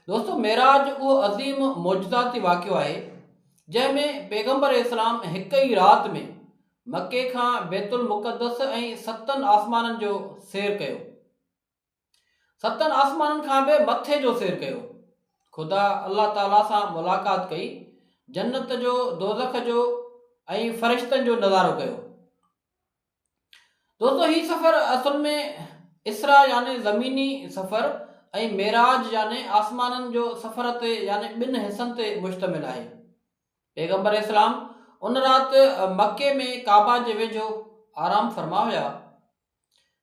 دوستو معراج اهو عظيم معجزاتي واقعو آهي جنهن ۾ پيغمبر اسلام هڪ ئي رات ۾ مڪي کان بيت المقدس ۽ ستن آسمانن جو سير ڪيو ستن آسمانن کان به مٿي جو سير ڪيو خدا الله تعالي سان ملاقات ڪئي جنت جو دوزخ جو ۽ فرشتن جو نظارو ڪيو دوستو هي سفر اصل ۾ اسرا يعني زميني سفر ۽ معراج يعني آسمانن جو سفر تي يعني ٻن حصن تي مشتمل آهي پيغمبر اسلام ان رات مڪي ۾ ڪعبا جي ويجهو آرام فرما هيا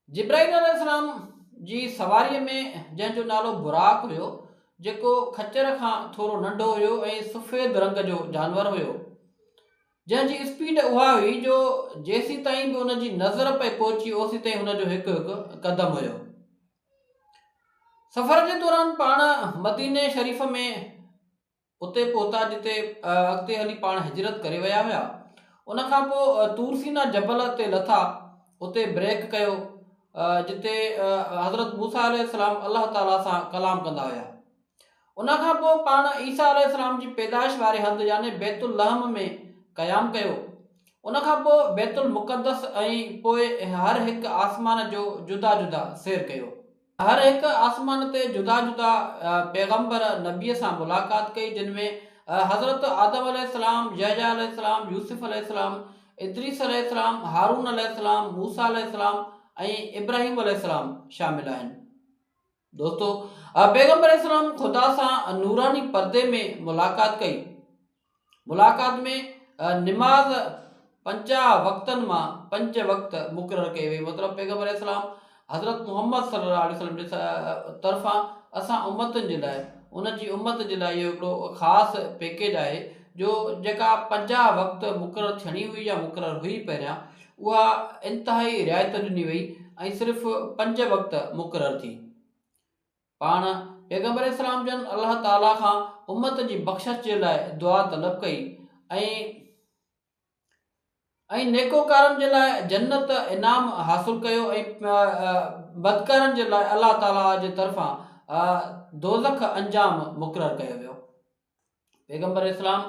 جبرائيل عليه السلام جي سواريء ۾ جنهن جو نالو براق هيو جيڪو کچر کان ٿورو ننڍو هيو ۽ سفيد رنگ جو جانور هيو جنهن جي اسپيڊ اها هئي جو جيسيتائين به ان جي نظر پئي پهچي اوسيتائين هن جو هڪ هڪ قدم هيو. سفر جي دوران پاڻ مديني شريف ۾ اتي پهتا جتي اڳتي هلي پاڻ هجرت ڪري ويا هيا ان کان پوء تورسينا جبل تي لٿا اتي بريڪ ڪيو جتي حضرت موسا عليه السلام الله تعالي سان ڪلام ڪندا هيا ان کان پوء پاڻ عيسيٰ عليه السلام جي پيدائش واري هنڌ يعني بيت اللحم ۾ قيام ڪيو. ان کان پوء بيت المقدس ۽ پوء هر هڪ آسمان جو جدا جدا سير ڪيو. هر هڪ آسمان تي جدا جدا پيغمبر، نبيء، سان ملاقات ڪئي جن ۾ حضرت آدم عليه السلام، يحيٰ عليه السلام، يوسف عليه السلام، ادريس عليه السلام، هارون عليه السلام، موسيٰ عليه السلام ۽ ابراهيم عليه السلام شامل آهن. دوستو! پيغمبر عليه السلام خدا سان نوراني پردي ۾ ملاقات ڪئي. ملاقات ۾ نماز پنجاهه وقتن مان پنج وقت مقرر ڪئي وئي مطلب پيغمبر عليه السلام حضرت محمد صلي الله عليه وسلم جي طرفان اسان امتن جي لاء ان جي امت جي لاء اهو هڪڙو خاص پيڪيج آهي جو جيڪا پنجاهه وقت مقرر ٿيڻي هئي يا مقرر هئي پهريان اها انتهائي رعايت ڏني وئي ۽ صرف پنج وقت مقرر ٿي. پاڻ پيغمبر اسلام جن الله تعاليٰ کان امت جي بخشش جي لاء دعا طلب ڪئي ۽ ۽ نيڪوڪارن جي لاء جنت انعام حاصل ڪيو ۽ بدڪارن جي لاء الله تعاليٰ جي طرفان دوزخ انجام مقرر ڪيو ويو. پيغمبر اسلام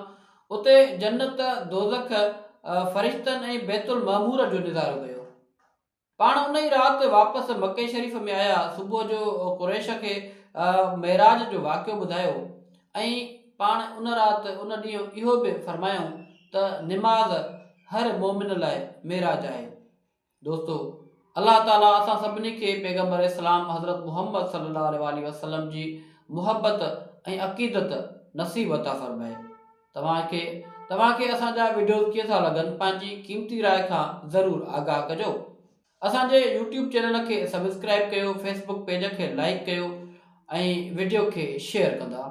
اتي جنت، دوزخ، فرشتن ۽ بيت المعمور جو نظارو ڪيو. پاڻ ان ئي رات واپس مڪي شريف ۾ آيا، صبح جو قريش کي معراج جو واقعو ٻڌايو ۽ پاڻ ان رات ان ڏينهن اهو به فرمايائون ته نماز هر مؤمن لاء معراج آهي. دوستو! الله تعاليٰ اسان سڀني کي پيغمبر اسلام حضرت محمد صلي الله عليه واٰله وسلم جي محبت ۽ عقيدت نصيب عطا فرمائي. توهان کي توهان کي اسان جا وڊيوز ڪيئن ٿا لڳن پنهنجي قيمتي راء کان ضرور آگاهه ڪجو. اسان جي يوٽيوب چينل کي سبسڪرائب ڪيو فيسبوڪ پيج کي لائيڪ ڪيو ۽ وڊيو کي شيئر ڪندا.